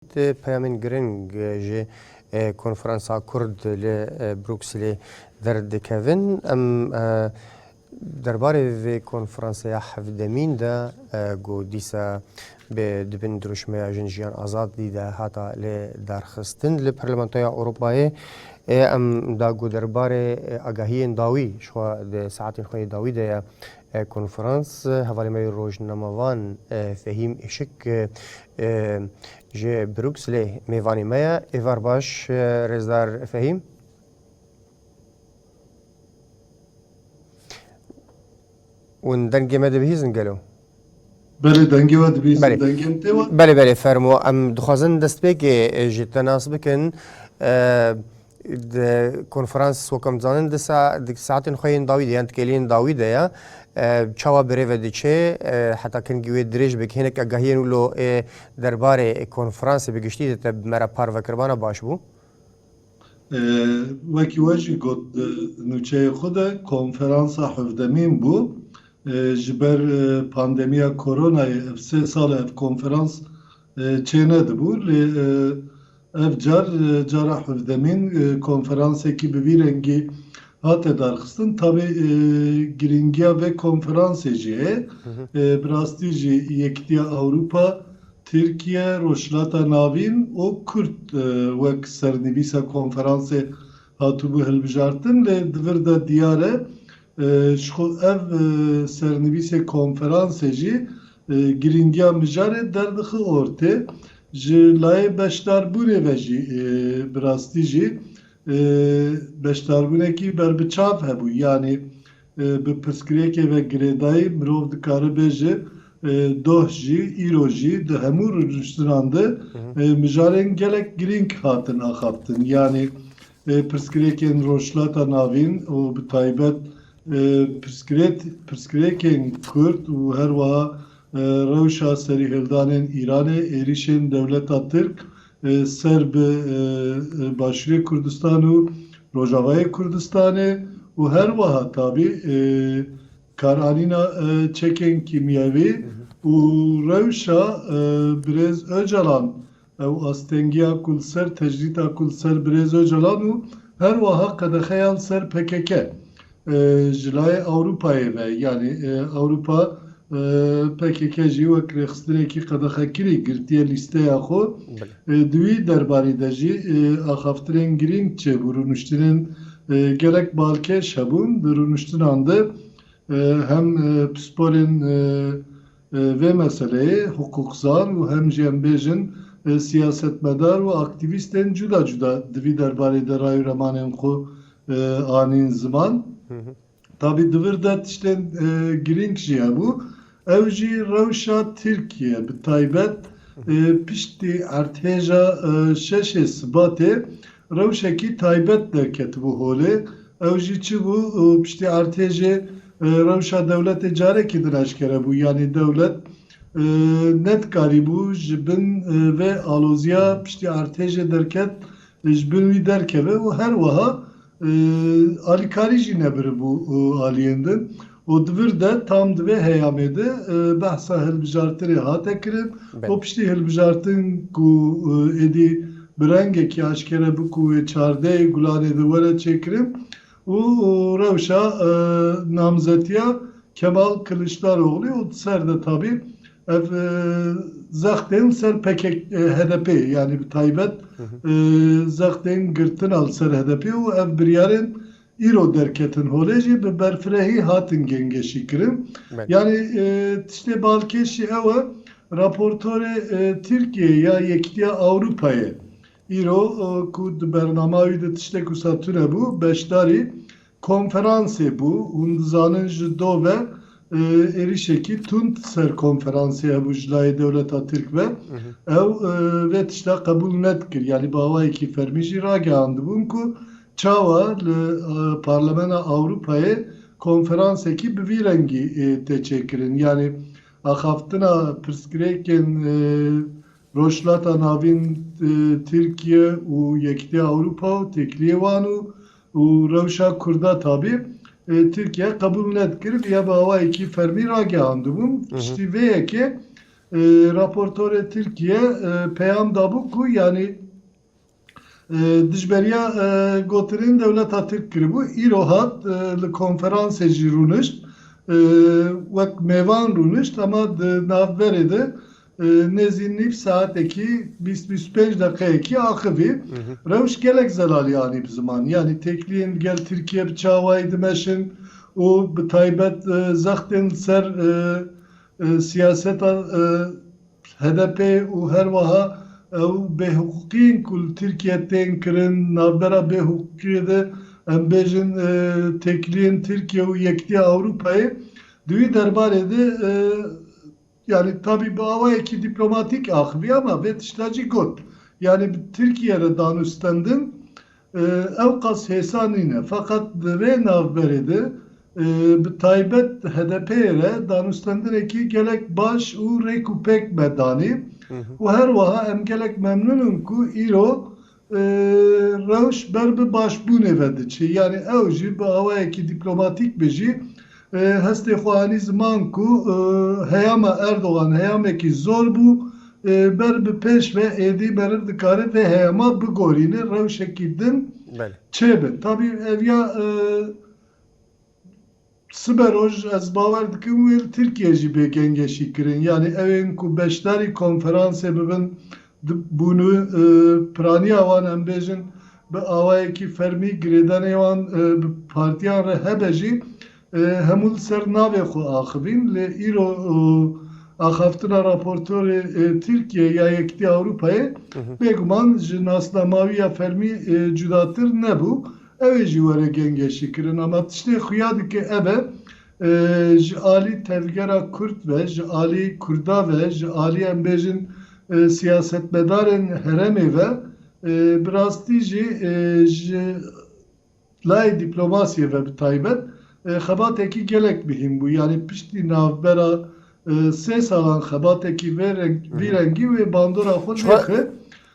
Di peyamên giring ji Konferansa Kurd li Brukselê derdikevin, em derbarê vê konferansaya hevdemîn de ku dîsa bi di bin dirûşmeya Jin Jiyan Azadî de hata lê darxistin li Parlamentoya Ewropayê em da ku derbarê agahiyên dawî ji xwe di saetên xwe yê dawî de ye Ev konferans hevalê me yê rojnamevan Fehîm Îşik ji Brukselê mêvanê me ye. Êvar baş Rêzdar Fehîm. Ûn dengê me dibihîzin gelo? Belê dengê we dibihîzin dengên tê we? Belê belê fermo em dixwazin destpêkê ji te nas bikin. Di konferans wekam dizanin di saetên xwe yên dawî de yan tikêliyên dawî de ya çawa bi rêve diçe heta kengî wê dirêj be hinek agahiyên wilo ê derbarê konferansê bi giştî de te me re parve kiribana baş bû. Wekî we jî got di nûçeyê xwe de konferansa hevdemîn bû. Ji ber pandemiya koronayê ev sê sal e ev konferans çênedibû lê Ev car cara hevdemîn konferansekî bi vî rengî hate darxistin. Tabî girîngiya vê konferansê jî heye. Bi rastî jî Yekîtiya Ewropa, Tirkiye, Rojhilata Navîn û Kurd wek sernivîsa konferansê hatibû hilbijartin. Lê di vir de diyar e ji xwe ev sernivîsê konferansê jî Girîngiya mijarê derdixe ortê. Ji layê beşdarbûnê ve jî bi rastî jî beşdarbûnekî berbiçav hebû. Yanî bi pirsgirêkê ve girêdayî mirov dikaribe ji doh jî îro jî di hemû rûniştinan de mijarên gelek girîng hatin axaftin. Yanî Pirsgirêkên Rojhilata Navîn û bi taybet pirsgirêkên Kurd û herwiha rewşa serîhêldanên Îranê êrîşên dewleta Tirk ser bi Başûrê Kurdistan û Rojavayê Kurdistanê û herwiha tabî karanîna çekên kîmyewî û rewşa Birêz Ocalan Ew astengiya ku li ser tecrîta ku li ser Birêz Ocalan û her wiha qedexeya li ser pkk ji layê Ewropayê ve, yanî Ewropa pkk jî wek rêxistinekî qedexekirî girtiye lîsteya xwe, di wî derbarî de jî axaftinên girîng çêbû, rûniştinên gelek balkêş hebûn, di rûniştinan de hem pisporên Vê meseleyê hiqûqzan û hem jî em bêjin siyasetmedar û aktîvîstên cuda cuda divî derbarê de ray û remanên xwe anîn ziman. Tabî di vir de tiştên girîng jî hebû. Ew jî rewşa Tirkiye bi taybet piştî erdhêja şeşê Sibatê Rewşekî taybet derketibû holê, ew jî çi bû? Piştî artêjê rewşa dewletê carekî din eşkere bû, yanî dewlet nedikarîbû ji bin vê aloziya piştî artêjê derket ji bin wî derkeve û her wiha alîkarî jî nebiribû aliyên din. Û di vir de tam di vê heyamê de behsa hilbijartinê hate kirin û piştî hilbijartin ku êdî bi rengekî aşkere bi ku wê çardeyê gulanê de were çêkirin û rewşa namzetiya Kemal Kiliçdaroglî û di ser de tabî ev zextên li ser pkk HDP'ê yanî bi taybet zextên girtina li ser HDP'ê û ev biryarên Îro derketin holê jî bi berfirehî hatin gengeşîkirin. Yanî tiştê balkêşî ew e, raportorê Tirkiyeyê ya Yekîtiya Ewropayê îro ku di bernama wî de tiştek wisa tune bû, beşdarî konferansê bû. Hûn dizanin ji do ve êrîşekî tund ser konferansê hebû ji layê dewleta Tirk ve. Ew vê tişta qebûl nedikir. Yanî bi awayekî fermî jî ragihandibûn ku Çawa li Parlemena Ewropayê konferansekî bi vî rengî tê çêkirin? Yanî axaftina pirsgirêkên Rojhilata Navîn, Tirkiye û Yekîtiya Ewropa û têkiliyê wan û û rewşa Kurda tabî Tirkiye qebûl nedikir bi ya bi awayekî fermî ragihandibûn. Piştî vê yekê raportorê Tirkiye peyam dabû ku yanî, Dijberiya gotinên dewleta Tirk kiribû, îro hat li konferansê jî rûnişt, wek mêvan rûnişt hema di navberê de nêzî nîv saetekî, bîst bîst û pênc deqeyekî axivî. Rewş gelek zelalî anî bi ziman. Yanî têkiliyên li gel Tirkiye bi çawayî dimeşin û bi taybet zextên li ser siyaseta HDP û herweha ew bêhiqûqiyên ku li Tirkiye tên kirin, di navbera bêhiqûqiyê de em bêjin têkiliyên Tirkiye û Yekîtiya Ewropayê di wî derbarê de yanî tabî bi awayekî dîplomatîk axivî ama vê tişta jî got, yanî bi Tirkiye re danûstendin Ewqas hêsa nîne. Feqet di vê navberê de bi taybet HDP'ê re danûstendirekî gelek baş û rêk û pêk me danî û her wiha em gelek memnûn in ku îro rewş ber bi başbûnê ve diçe. Yanî ew jî bi awayekî dîplomatîk be jî Hestê xwe anî ziman ku heyama Erdogan heyamekî zor bû, ber bi pêş ve êdî meriv dikare vê heyama bigorîne, rewşekî din çêbe. Tabî ev ya sibe roj ez bawer dikim wê li Tirkiyeyê jî bêkengeşî kirin. Yanî ew ên ku beşdarî konferansê bibin, Di bûnû piraniya wan em bêjin bi awayekî fermî girêdanê wan bi partiyan re hebe jî hemû li ser navê xwe axivîn lê îro axaftina raportorê Tirkiyeyê ya Yekîtiya Ewropayê bêguman ji nasnamawiya fermî cudatir nebû. Ew ê jî were gengeşîkirin. Ama tiştê xuya dike ev e ji alî tevgera Kurd ve, ji alî Kurda ve, ji alî em bêjin siyasetmedarên heremê ve bi rastî jî ji layê dîplomasiyê ve bi taybet xebatekî gelek mihîm bû. Yanî piştî navbera sê salan xebatekî vê rengî wê bandora xwe nêxist.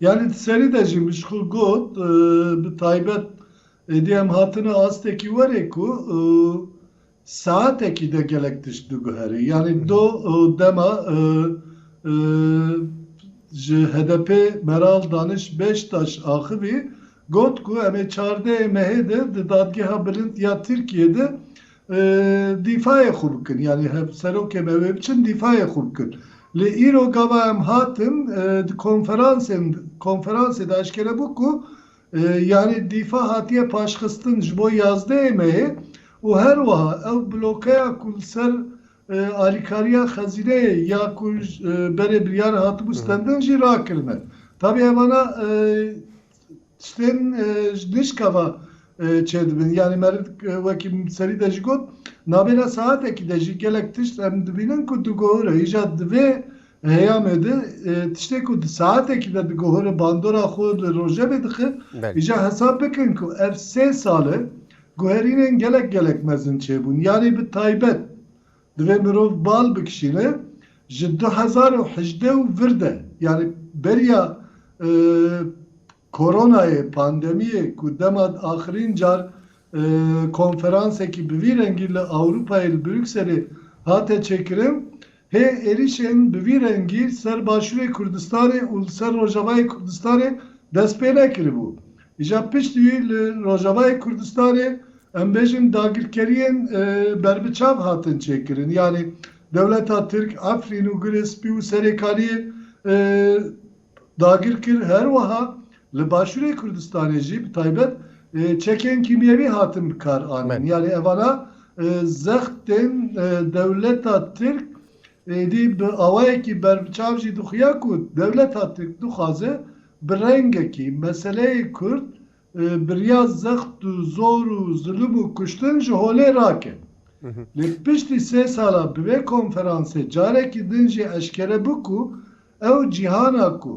Yanî di serî de jî min ji xwe got bi taybet êdî em hatine astekî werê ku saetekî de gelek tişt biguherî. Yanî do dema ji HDP'ê Meral Daniş Beştaş axivî got ku em ê çardeyê mehê de di Dadgeha Bilind ya Tirkiyeyê de Dîfayê xwe bikin. Yanî hevserokê me wê biçin dîfayê xwe bikin. Lê îro gava em hatin di konferansên konferansê de eşkere bû ku yanî dîfa hatiye paşxistin ji bo yazdeyê me yê û her wiha ew blokeya ku li ser alîkariya xezîneyê ya ku berê biryar hatibû stendin jî rakirine. Tabî evana Tiştên ji nişka ve çêdibin. Yanî me wekî serî de jî got, navbera saetekî de jî gelek tişt em dibînin ku diguhore. Îja di vê heyamê de tiştê ku di saetekî de diguhore bandora xwe li rojevê dixe. Îja hesab bikin ku ev sê sal e guherînên gelek gelek mezin çêbûn. Yanî bi taybet Divê mirov bal bikişîne ji du hezar û hejdeh û vir de yanî beriya Koronayê, pandemiyê ku dema axirîn car konferansekî bi vî rengî li Ewropayê li Brukselê hate çêkirin, hê êrîşên bi vî rengî ser Başûrê Kurdistanê û li ser Rojavayê Kurdistanê dest pê nekiribû. Îja piştî wî li Rojavayê Kurdistanê em bêjin dagirkeriyên berbiçav hatin çêkirin. Yanî dewleta Tirk Efrîn û Gurê Spî û Serêkaniyê dagir kir. Her wiha li Başûrê Kurdistanê jî bi taybet çekên kîmyewî hatin bi kar anin. Yanî evana zext tên dewleta Tirk êdî bi awayekî berbiçav jî dixuya ku dewleta Tirk dixwaze Bi rengekî meseleyê kurd bi riya zext û zor û zulûm û kuştin ji holê raket. Lê piştî sê salan bi vê konferansê carekî din jî eşkere bû ku ew cîhana ku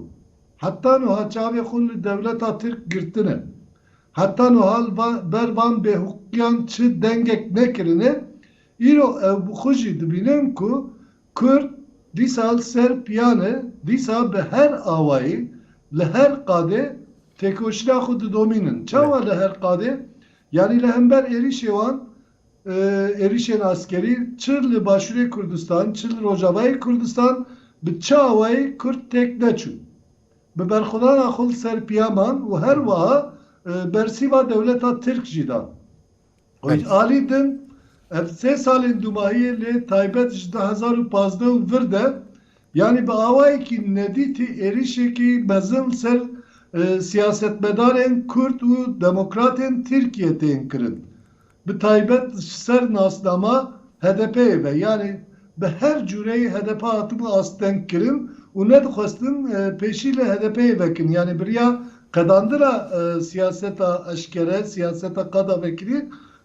heta nuha çavê xwe li dewleta tirk girtine, heta nuha li ber van bêhiqûqiyan çi dengek nekirine, îro ew bi xwe jî dibînin ku Kurd dîsal ser piyan e, dîsa bi her awayê, li her qadê têkoşîna xwe didomînin. Çawa li her qadê? Yanî li hember êrîşê wan, êrîşên askerî çi li Başûrê Kurdistan, çi li Rojavayê Kurdistan bi çi awayê Kurd têk neçû. Bi berxwedana xwe li ser piya man û her wiha bersîva dewleta Tirk jî dan. Xwîn Alî din, ev sê salên dûmahiyê lê taybet ji du hezar û pazdeh û vir de, yanî bi awayekî nedîtî êrîşekî mezin li ser siyasetmedarên Kurd û demokratên Tirkiyê tên kirin, bi taybet ji ser nasnama HDP'ê ve, yanî Bi her cureyê hdp hatibû astengkirin û nedixwestin pêşî li HDP'ê vekin. Yanî biriya qedandina siyaseta eşkere, siyaseta qada vekirî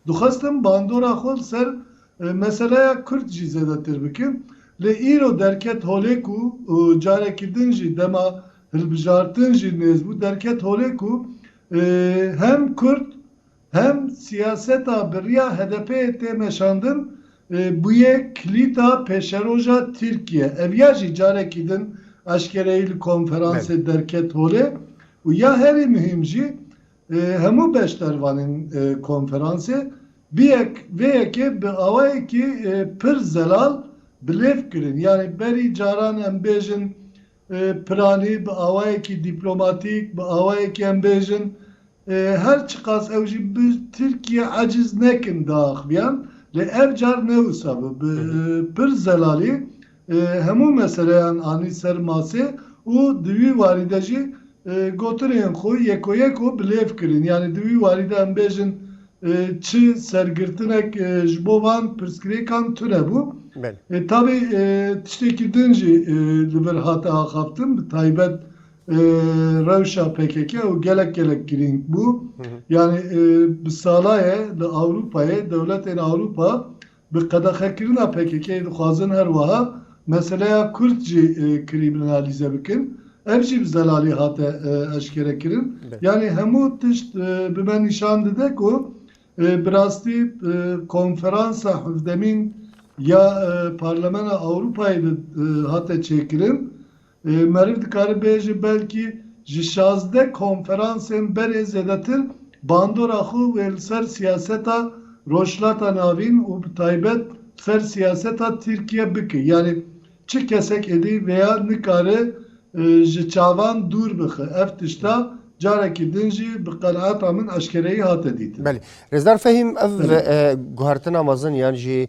dixwestin bandora xwe li ser meseleya kurd jî zêdetir bikin. Lê îro derket holê ku carekî din jî dema hilbijartin jî nêz bû, derket holê ku hem kurd, Hem siyaseta bi riya HDP'ê tê meşandin bûye kilîta pêşeroja Tirkiye. Ev ya jî carekî din eşkereyî li konferansê derket holê û ya herî muhîm jî hemû beşdervanên konferansê bi yek vê yekê bi awayekî pir zelal bi lêv kirin. Yanî berî caran em bêjin Piranî bi awayekî dîplomatîk, bi awayekî em bêjin her çiqas ew jî bi Tirkiye eciz nekin da axiviyan lê ev car ne wisa bû. Bi pir zelalî hemû meseleyan anî ser masê û di wî warî de jî Gotinên xwe yekoyeko bi lêv kirin. Yanî di wî warî de em bêjin çi sergirtinek ji bo van pirsgirêkan tune bû. Taybî tiştekî din jî li vir hate axaftin bi taybet rewşa pkk ew gelek gelek girîng bû. Yanî bi salaye li Ewropayê dewletên Ewropa Bi qedexekirina pkk-yê dixwazin her wiha meseleya kurd jî krîminalîze bikin. Ev jî bi zelalî hate eşkerekirin. Yanî hemû tişt bi me nîşan dide ku bi rastî konferansa hevdemîn ya Parlemena Ewropayê de hate çêkirin. Merîv dikare bêje belkî ji şazdeh konferansên berê zêdetir bandora xwe wê li ser siyaseta Rojhilata Navîn û bi taybet li ser siyaseta Tirkiye bike. Yanî çi kesek êdî vêya nikare ji çavan dûr bixe. Ev tişta carekî din jî bi qenaeta min eşkereyî hate dîtin. Belê. Rêzdar Fehîm ev guhertina mezin yan jî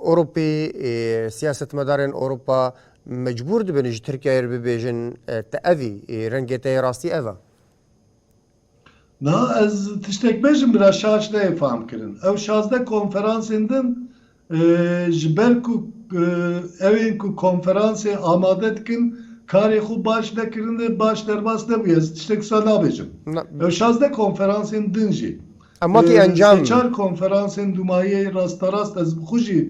Ewropî, siyasetmedarên Ewropa mecbûr dibin ji Tirkiyeyê re bibêjin te evî, rengê te yê rastî ev e. Na, ez tiştek bêjim bira şaş neyê famkirin. Ew şazdeh konferansên din ji ber ku ew ên ku konferansê amade dikin karê xwe baş nekirin e, baş derbas nebûye. Ez tiştek wisa nabêjim. Ew şazdeh konferansên din jî Em wekî encam. Sê çar konferansên dûmayî rasterast ez bi xwe jî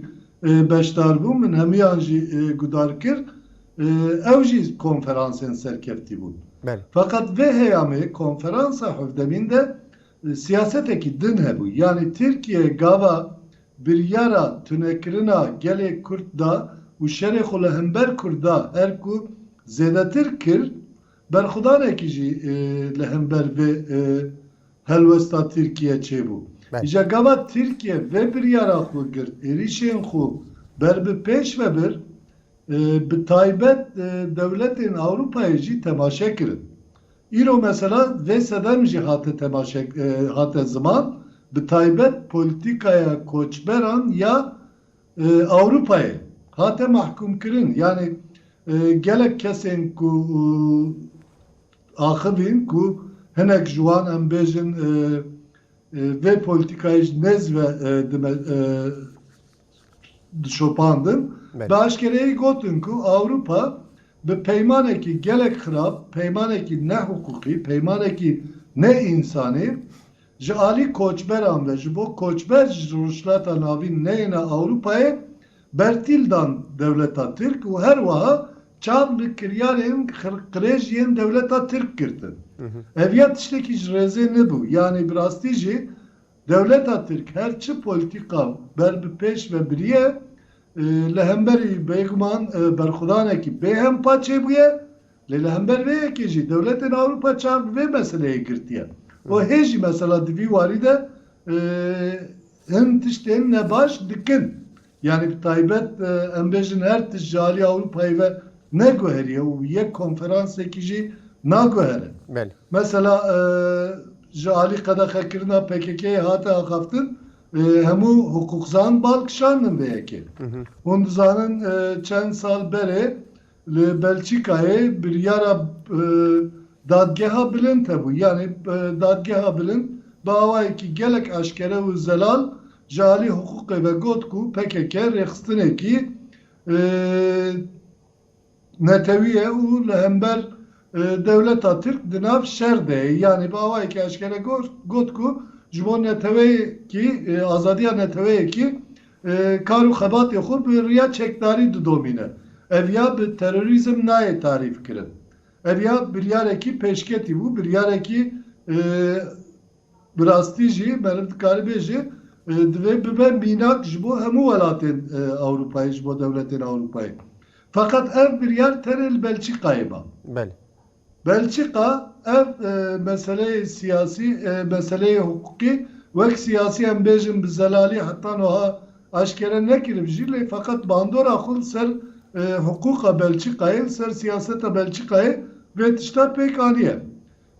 beşdar bûm, min hemûyan jî gudar kir. Ew jî konferansên serkeftî bûn. Feqet vê heyamê konferansa hevdemîn de siyasetekî din hebû. Yanî Tirkiye gava biryara tunekirina gelê Kurd da û şerê xwe li hember Kurda her ku zêdetir kir, berxwedanekî jî li hember vê Helwesta Tirkiye çêbû. Îca gava Tirkiye vê biryara xwe girt, êrîşên xwe ber bi pêş ve bir, bi taybet dewletên Ewropayê jî temaşe kirin. Îro mesela vê sedem jî hate temaşe hate ziman, bi taybet polîtîkaya koçberan ya Ewropayê hate mahkûmkirin. Yanî gelek kesên ku. axivîn ku hinek ji wan em bêjin vê polîtîkayê ji nêz ve dime dişopandin, bi eşkereyî gotin ku Ewropa bi peymanekî gelek xirab, peymanekî nehiqûqî, peymanekî nêînsanî Ji alî koçberan ve ji bo koçber ji Rojhilata Navîn neyêne Ewropayê bertîl dan dewleta Tirk û her wiha çav li kiryarên qirêj yên dewleta Tirk girtin. Ev ya tiştekî ji rêzê nebû, yanî bi rastî jî dewleta Tirk her çi polîtîka ber bi pêş ve biriye li hemberî bêguman berxwedanekî bêhempa çêbûye, Lê li hember vê yekê jî dewletên Ewropa çav bi vê meseleyê girtiye û hê jî mesela di vî warî de hin tiştên ne baş dikin. Yanî bi taybet em bêjin her tişt ji alî Ewropayê ve neguheriye û yek konferansekî jî naguhere. Mesela ji alî qedexekirina PKK'ê hate axaftin hemû hiqûqzan bal kişandin vê yekê. Hûn dizanin çend sal berê Li Belçîkayê biryara Dadgeha Bilind hebû. Yanî Dadgeha Bilind bi awayekî gelek eşkere û zelal ji alî hiqûqê ve got ku pkk rêxistinekî netewî ye û li hember Dewleta Tirk di nav şer de ye. Yanî bi awayekî eşkere got ku ji bo neteweyekî, azadiya neteweyekî kar û xebatê xwe bi riya çekdarî didomîne. Ev ya bi terorîzm nayê tarîfkirin. Ev ya biryarekî pêşketî bû, biryarekî Bi rastî jî meriv dikarî bêjî divê bibe mînak ji bo hemû welatên Ewropayê, ji bo dewletên Ewropayê. Feqet ev biryar tenê li Belçîkayê ma. Belê. Belçîka ev meseleyê siyasî, meseleyê hiqûqî wek siyasî em bêjin bi zelalî heta nuha eşkere nekiriv jî lê feqet bandora xwe li ser hiqûqa Belçîkayê, li ser siyaseta Belçîkayê vê tişta pêk aniye.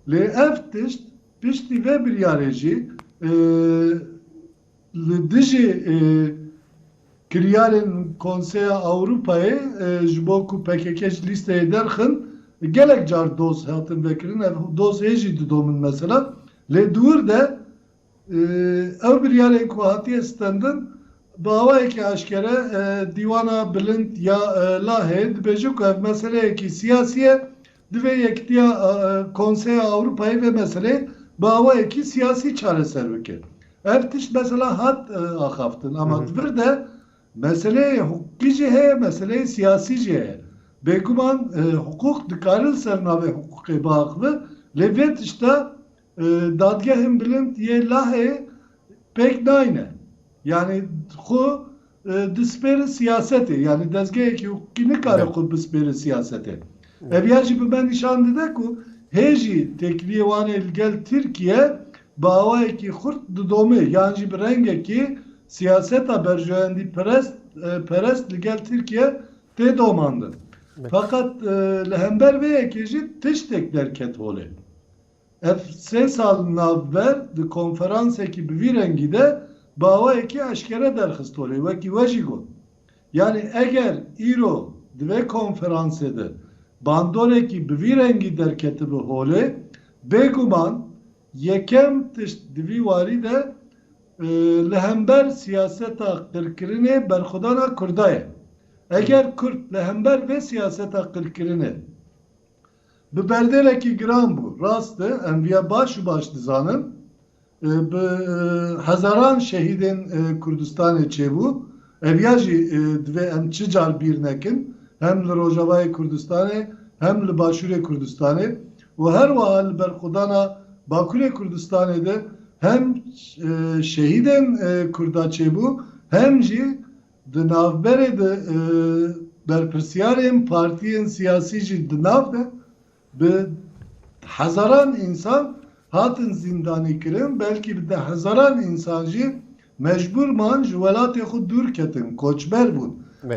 Lê ev tişt. Piştî vê biryarê jî li dijî kiryarên Konseya Ewropayê ji bo ku pkk ji lîsteyê derxin gelek car doz hatin vekirin. Ev doz hê jî didomin mesela. Lê di wir de ew biryarên ku hatiye stendin bi awayekî eşkere Dîwana Bilind ya Laheyê dibêje ku ev meseleyekî siyasî ye Divê Yekîtiya Konseya Ewropayê vê meseleyê bi awayekî siyasî çareser bike. Ev tişt mesela hat axaftin ama di vir de meseleyê hukukî jî heye, meseleyê siyasî jî heye. Bêguman hukuk dikare li ser navê hukukê biaxive lê vê tişta Dadgehên Bilind yê Lahê pêk nayne. Yanî xwe dispêrin siyasetê. Yanî dezgehekî hukukî nikare xwe bispêre siyasetê. Ev ya jî bi me nîşan dide ku hê jî têkiliyê wan ê li gel Tirkiye bi awayekî xurt didomê yan jî bi rengekî siyaseta berjewendî perest perest li gel Tirkiye tê domandin. Feqet li hember vê yekê jî tiştek derket holê. Ev sê sal navber di konferansekî bi vî rengî de bi awayekî eşkere derxistonê, wekî we jî got, yanî eger îro di vê konferansê de bandorekî bi vî rengî derketibi holê, bêguman yekem tişt di vî warî de li hember siyaseta qirkirinê berxwedana Kurda ye. Eger Kurd li hember vê siyaseta qirkirinê Bi berdêlekî giran bû. Rast e, em vîya baş û baş dizanin. Bi hezaran şehîdên Kurdistanê çêbû. Ev ya jî divê em çi car bîr nekin, hem li Rojavayê Kurdistanê, hem li Başûrê Kurdistanê û her wiha li berxwedana Bakurê Kurdistanê de hem şehîdên Kurda çêbû, hem jî Di navberê de berpirsyarên partiyên siyasî jî di nav de bi hezaran însan hatin zîndanîkirin, belkî bi dehhezaran însan jî mecbûr man ji welatê xwe dûr ketin, koçber bûn.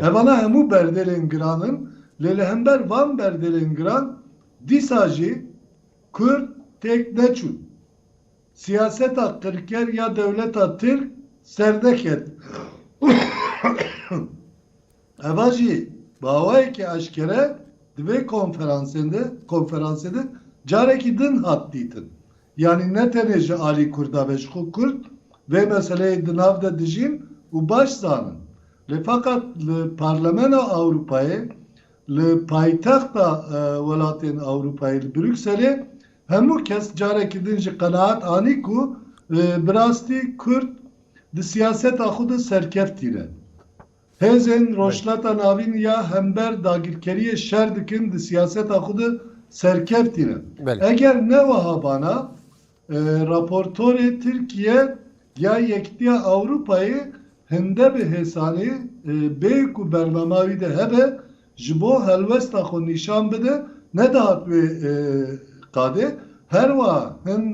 Evana hemû berdêlên giran in, lê li hember van berdêlên giran dîsa jî Kurd têk neçûn. Siyaseta qirker ya dewleta tirk serde ket. Eva jî bi awayekî eşkere di vê konferansên de konferansê de carekî din hat dîtin. Yanî ne tenê ji alî kurda be ji xwe kurd vê meseleyê di nav de dijîn û baş zanin. Lê feqet li Parlemena Ewropayê, li paytexta welatên Ewropayê li Brukselê, Hemû kes carekî din jî qenaat anî ku bi rastî Kurd di siyaseta xwe de serkeftî ne. Hêzên Rojhilata Navîn ya hember dagirkeriyê şer dikin di siyaseta xwe de serkeftî ne. Eger ne wiha bana raportorê Tirkiye ya Yekîtiya Ewropayê Hinde bi hêsanî bê ku bernama wî de hebe ji bo helwesta xwe nîşan bide nedihat wê qadê. Her wiha hin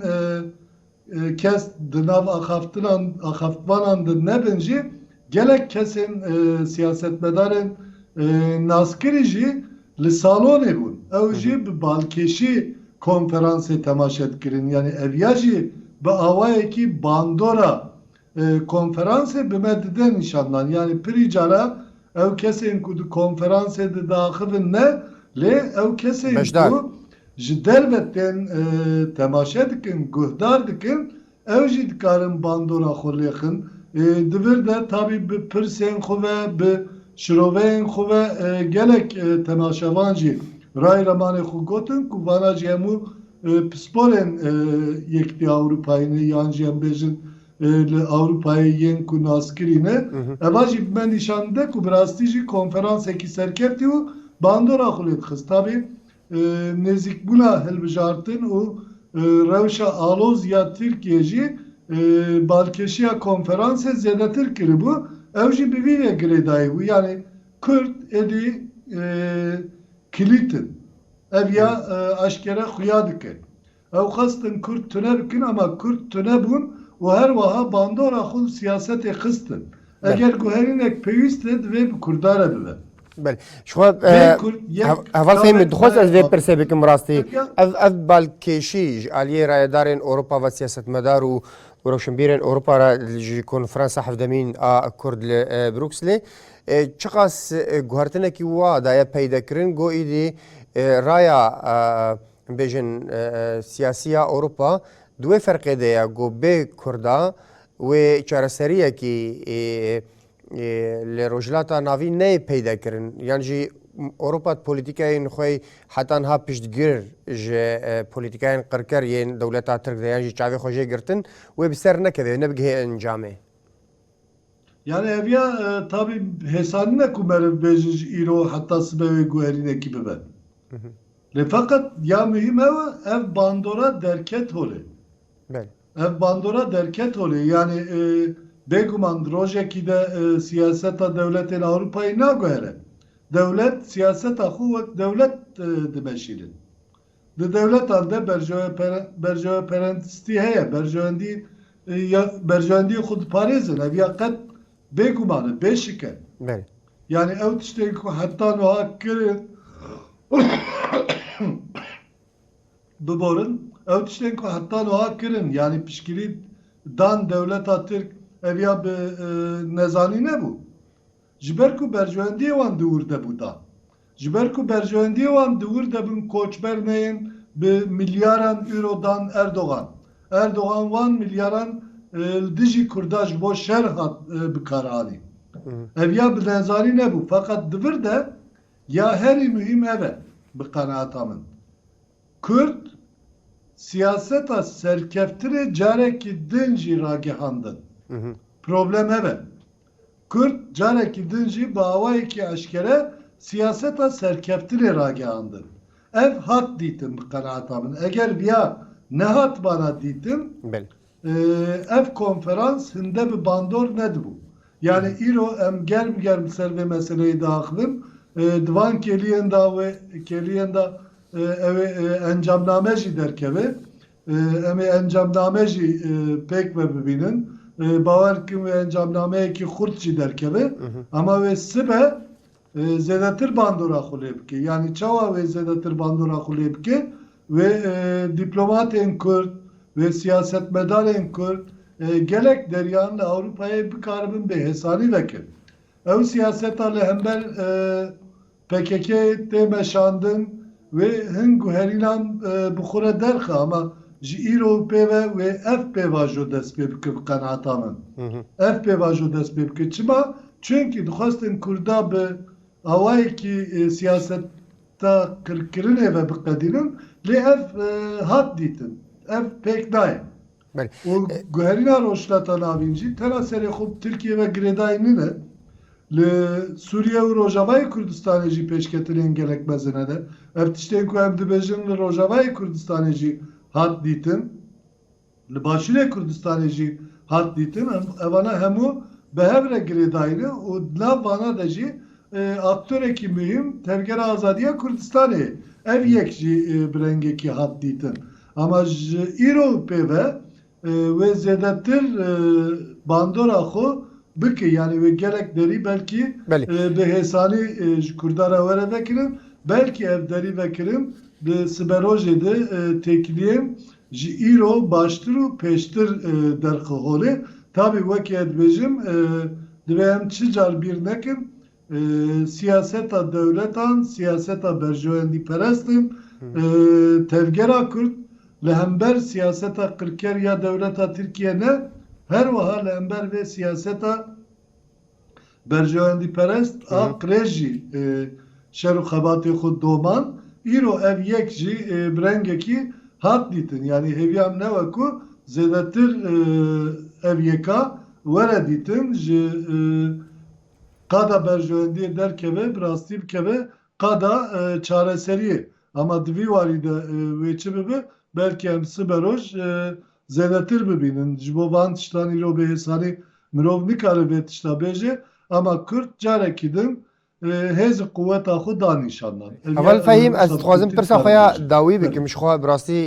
kes di nav axaftinan axaftvanan de nebin jî gelek kesên siyasetmedarên naskirî jî li salonê bûn. Ew jî bi balkêşî konferansê temaşe dikirin. Yanî ev ya jî bi awayekî bandora Konferansê bi me dide nîşan dan. Yanî pirî cara ew kesên ku di konferansê de diaxivin ne, lê ew kesên ku ji derve tên temaşe dikin, guhdar dikin, ew jî dikarin bandora xwe lêxin. Di vir de tabî bi pirsên xwe ve, bi şiroveyên xwe ve gelek temaşevan jî rayramanê xwe gotin ku vana jî hemû Pisporên Yekîtiya Ewropayê ne yan jî em bêjin li Ewropayê yên ku naskirî ne, eva jî bi me nîşan dide ku bi rastî jî konferansekî serkeftî û bandora xwe lê dixist. Tabî nêzîkbûna hilbijartin û rewşa aloz ya Tirkiyeyê jî balkêşiya konferansê zêdetir kiribû, ew jî bi vî vê girêdayî bû, yanî Kurd êdî kilît in. Ev ya eşkere xuya dike. Ew xwestin kurd tune bikin ama kurd tune bûn û her weha bandora xwe li siyasetê xistin. Eger guherînek pêwîst e divê bi kurda re bibe. Belê. Ji xwe heval fehmî dixwaz ez vê pirsê bikim rastî. Ev ev balkêşî ji aliyê rayedarên Ewropa ve siyasetmedar û û rewşenbîrên Ewropa re ji konferansa hevdemîn a kurd li Brukslê Çiqas guhertinekî wa daye peydekirin go îdî raya bêjin siyasî ya Ewropa di wê ferqê de ye go bê Kurda wê çareseriyekî li Rojhilata Navîn neyê peydekirin yan jî Ewropa di polîtîkeyên xwe heta niha piştgir ji polîtîkeyên qirker yên dewleta Tirk de yan jî çavê xwe jê girtin wê bi ser nekeve wê nebigihe encamê. Yanî heviya tabî hêsanî ne ku meriv bêje ji îro heta sibe wê guherînekî bibe. Lê feqet ya muhîm hewa ev bandora derket holê. Ev bandora derket holê yanî bêguman di rojekî de siyaseta dewletên Ewropayê naguhere. Dewlet siyaseta xwe wek dewlet dimeşîne. Di dewletan de berjeweperentistî heye, berjewendîyê xwe diparêzin, ev ya qet bêguman e, bêşike. Yanî ew tiştên ku heta nuha kirin biborin, ew tiştên ku heta nuha kirin, yanî pişkîrî dan dewleta tirk, ev ya bi nezanî nebû. Ji ber ku berjewendiyê wan di wir de bû da. Ji ber ku berjewendiyê wan di wir de bûn koçber neyên bi milyaran euro dan Erdogan. Erdogan wan milyaran li dijî kurda ji bo şer hat bikaranî. Ev ya bi nezanî nebû feqet di vir de ya herî muhîm ev e bi qenaata min. Kurd siyaseta serkeftinê carekî din jî ragihandin. Problem ev e. Kurd carekî din jî bi awayekî eşkere siyaseta serkeftinê ragihandin. Ev hat dîtin bi qenaata min. Eger viya nehatibana dîtin ev konferans hinde bi bandor nedibû. Yanî îro em germ germ li ser vê meseleyê diaxivin. Di van kêliyên de wê kêliyên de ew ê encamname jî derkeve. Em ê encamname jî pêk ve bibînin. Bawer bikin wê encamnameyekî xurt jî derkeve. Ema wê sibe zêdetir bandora xwe lê bike. Yanî çawa wê zêdetir bandora xwe lê bike? Wê dîplomatên Kurd, wê siyasetmedarên Kurd gelek deriyan li Ewropayê bikaribin bêhêsanî vekin. Ew siyaseta li hember Pkk tê meşandin wê hin guherînan bi xwe re derxe ama ji îro û pê ve wê ev pêvajo dest pê bike bi qenata min ev pêvajo dest pê bike çima çunkî dixwestin kurda bi awayekî siyaseta qirkirinê ve biqedînin lê ev hat dîtin ev pêk nayê Û guherîna Rojhilata Navîn jî tena serê xwe bi Tirkiyeyê ve girêdayî nîne. Li Sûriye û Rojavayê Kurdistanê jî pêşketinên gelek mezin hene. Ev tiştên ku em dibêjin li Rojavayê Kurdistanê jî hat dîtin, li Başûrê Kurdistanê jî hat dîtin. Evane hemû bi hev re girêdayî ne û di nav vana de jî aktorekî muhîm Tevgera Azadiya Kurdistanê ye. Ev yek jî bi rengekî hat dîtin. Ama ji îro pê ve wê zêdetir bandora xwe bike yanî wê gelek derî belkî bi hêsanî ji kurdan re were vekirin belkî ev derî vekirin di siberojê de têkiliyên ji îro baştir û pêştir derxwe holê. Tabî wekî ez dibêjim divê em çi car bîr nekin Siyaseta dewletan siyaseta berjewendîperest in. Tevgera Kurd li hember siyaseta qirker ya dewleta Tirkiye ne, her wiha li hember vê siyaseta berjewendîperest a qirêj jî şer û xebatê xwe domand. Îro ev yek jî bi rengekî hat dîtin. Yanî hêviya min ew e ku zêdetir ev yeka were dîtin ji Qada berjewendiyê derkeve, bi rastî bikeve qada çareseriyê. Ama di vî warî de wê çi bibe, belkî em sibe roj zêdetir bibînin. Ji bo van tiştan îro bê hêsanî mirov nikare vê tişta bêje. Ama Kurd carekî din hêz û quweta xwe da nîşan dan. Heval Fehîm, ez dixwazim pirsa xwe ya dawî bikim. Ji xwe bi rastî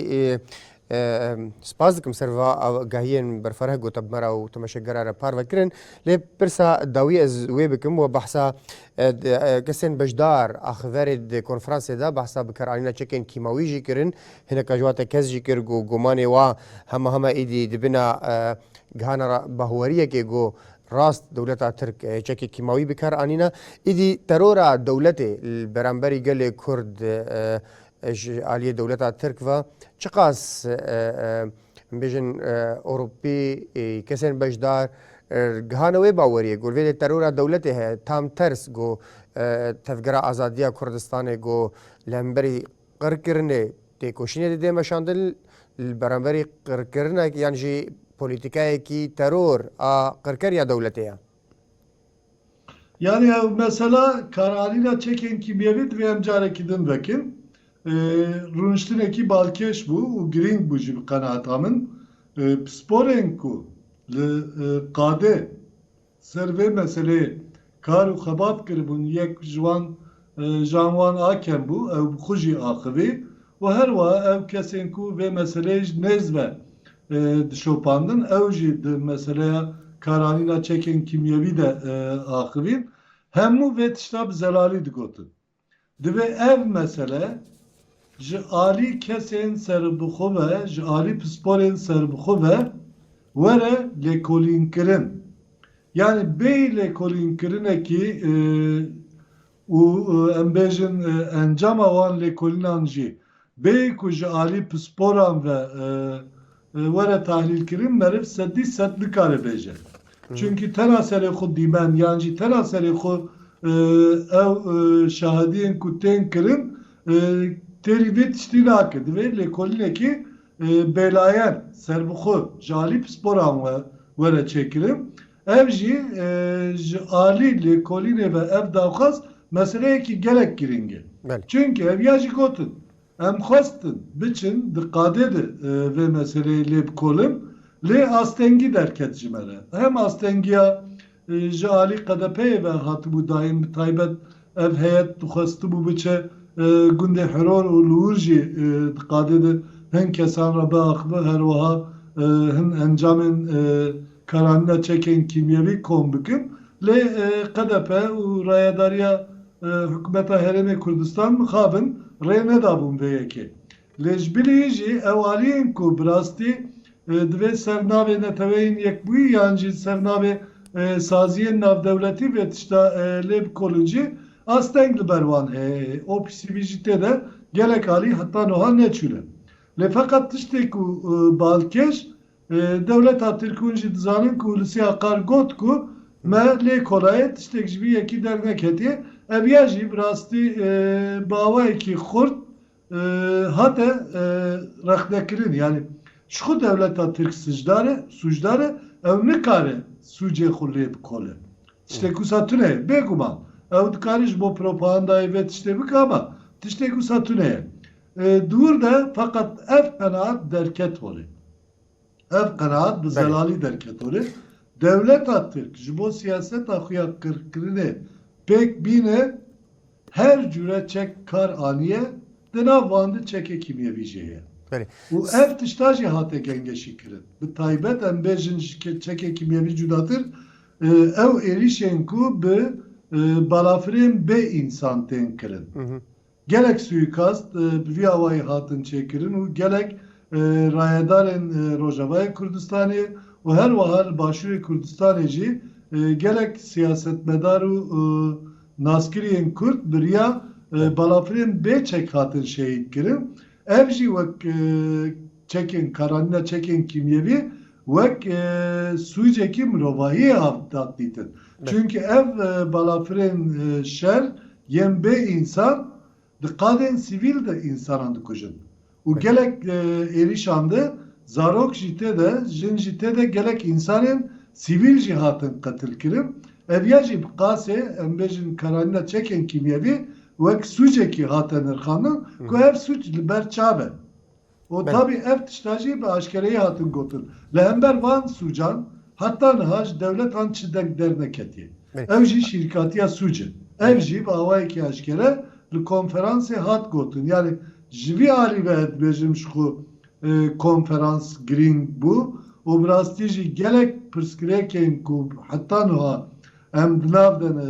Spas dikim ser va agahiyên berfireh gotabimera û temeşekgera re parve kirin. Lê pirsa dawî ez wê bikim wa behsa kesên beşdar axiverê di konferansê de behsa bikaranîna çekên kîmawî jî kirin. Hineka ji wan te kes jî kir ku gumanê wan hema hema êdî di bina gihana bahweriyekê ku rast dewleta Tirk çekê kîmawî bikaranîna. Êdî terora dewletê li beramberî gelê Kurd Ji aliyê dewleta Tirk ve çiqas bêjin Ewropî kesên beşdar gihane wê baweriyê ku li vê de terora dewletê heye tam ters ku tevgera azadiya Kurdistanê ku li hemberî qirkirinê têkoşînê de dê meşandin li beramberî qirkirina yan jî polîtîkayekî teror a qirker ya dewletê ye. Yanî ew mesela karalîna çekên kîmyewî divê em carekî din vekin. Rûniştinekî balkêş bû û girîng bû jî bi qenaata min. Pisporên ku li qadê ser vê meseleyê kar û xebat kiribûn yek ji wan Jan wan a kem bû, ew bi xwe jî axivî û her wiha ew kesên ku vê meseleyê ji nêz ve dişopandin ew jî di meseleya karanîna çekên kîmyewî de axivîn. Hemû vê tişta bi zelalî digotin. Divê ev mesele Ji alî kesên serbixwe ve, ji alî pisporên serbixwe ve were lêkolînkirin. Yanî bêyî lêkolînkirinekî û em bêjin encama wan lêkolînan jî bêyî ku ji alî pisporan ve Were tahlîlkirin meriv sedî sed nikare bêje. Çunkî tena serê xwe dîmen yan jî tena serê xwe ew şahidiyên ku tên kirin têrî vê tiştî nake. Divê lêkolînekî bêlayen, serbixwe ji alî pisporan we were çêkirin. Ev jî ji alî lêkolînê ve ev daxwaz meseleyekî gelek girîng e. Çunkî ev ya jî gotin Em xwestin biçin di qadê de vê meseleyê lê bikolin lê astengî derket ji me re. Hem astengiya ji alî QDP'ê ve hatibû dayîn bi taybet ev heyet dixwestibû biçe gundê Hiror û li wir jî di qadê de hin kesan re biaxive her wiha hin encamên karanîna çekên kîmyewî kom bikin lê QDP û rayedariya Hikûmeta Herêmê Kurdistan mixabin rê nedabûn vê yekê. Lê ji bilî jî ew aliyên ku bi rastî divê ser navê Neteweyên Yekbûyî yan jî ser navê saziyên navdewletî vê tişta lê bikolin jî asteng li ber wan heye. OPCV jî tê de gelek alî heta nuha neçûne. Lê feqet tiştê ku balkêş Dewleta Tirk hûn jî dizanin ku Hulusi Akar got ku me lê kolaye tiştek ji vî yekî derneketiye. Ev ya jî bi rastî bi awayekî xurt hate rexnekirin. Yanî ji xwe dewleta Tirk sijdar e, sûcdar e. Ew nikare sûcê xwe lê bikole. Tiştê ku wisa tune ye. Bêguman ew dikare ji bo propagandayê vê tiştê bike ama tiştê ku wisa tune ye. Dûr de feqet ev qenaat derket holê. Ev qenaat bi zelalî derket holê. Dewleta Tirk ji bo siyaseta xwe ya qirkirinê pêk bîne her cûre çek kar aniye, di nav wan de çekê kîmyevî jî heye. Û ev tişta jî hate gengeşî kirin. Bi taybet em bêjin ji çekê kîmyevî cudatir ew êrîşên ku bi balafirên bê însan tên kirin. Gelek suîkast bi vî awayî hatin çêkirin û gelek rayedarên Rojavayê Kurdistanê û her wiha li Başûrê Kurdistanê jî gelek siyasetmedar û naskiriyên Kurd bi riya balafirên bê çek hatin şehîdkirin. Ev jî wek çekên karanîna çekên kîmyevî wek sûcekî mirovahiyê hat daqdîtin. Çunke ev balafirên şer yên bê însan di qadên sivîl de însanan dikujin û gelek êrîşan de zarok jî tê de, jin jî tê de gelek însanên sivîl jî hatin qetilkirin. Ev ya jî bi qasê em bêjin karanîna çekên kîmyevî wek sûcekî hate nirxandin ku ev sûc li ber çav e. Û tabî ev tişta jî bi aşkereyî hatin gotin. Li hember van sûcan heta niha ji dewletan çidek derneketiye. Ew jî şîrkatiya sûc e. Ev jî bi awayekî aşkere li konferansê hat gotin. Yanî ji vî alî ve ez dibêjim ji xwe konferans girîng bû û bi rastî jî gelek pirsgirêkên ku heta niha Em di nav de ne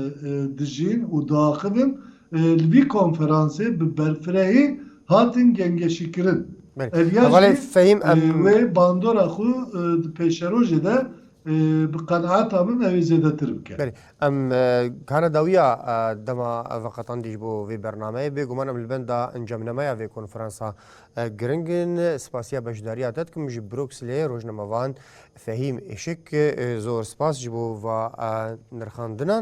dijîn û diaxivin. Li vî konferansê bi berfirehî hatin gengeşîkirin. Ev ya jî wê bandora xwe di pêşerojê de bi qenaeta min ew ê zêdetir bike. Belê. Em kana dawiya dema veqetandî ji bo vê bernameyê. Bêguman em li benda encamnameya vê konferansa giring in. Spasiya beşdariya te dikim ji Brukslê, rojnamevan Fehîm Îşik zor spas ji bo va nirxandina.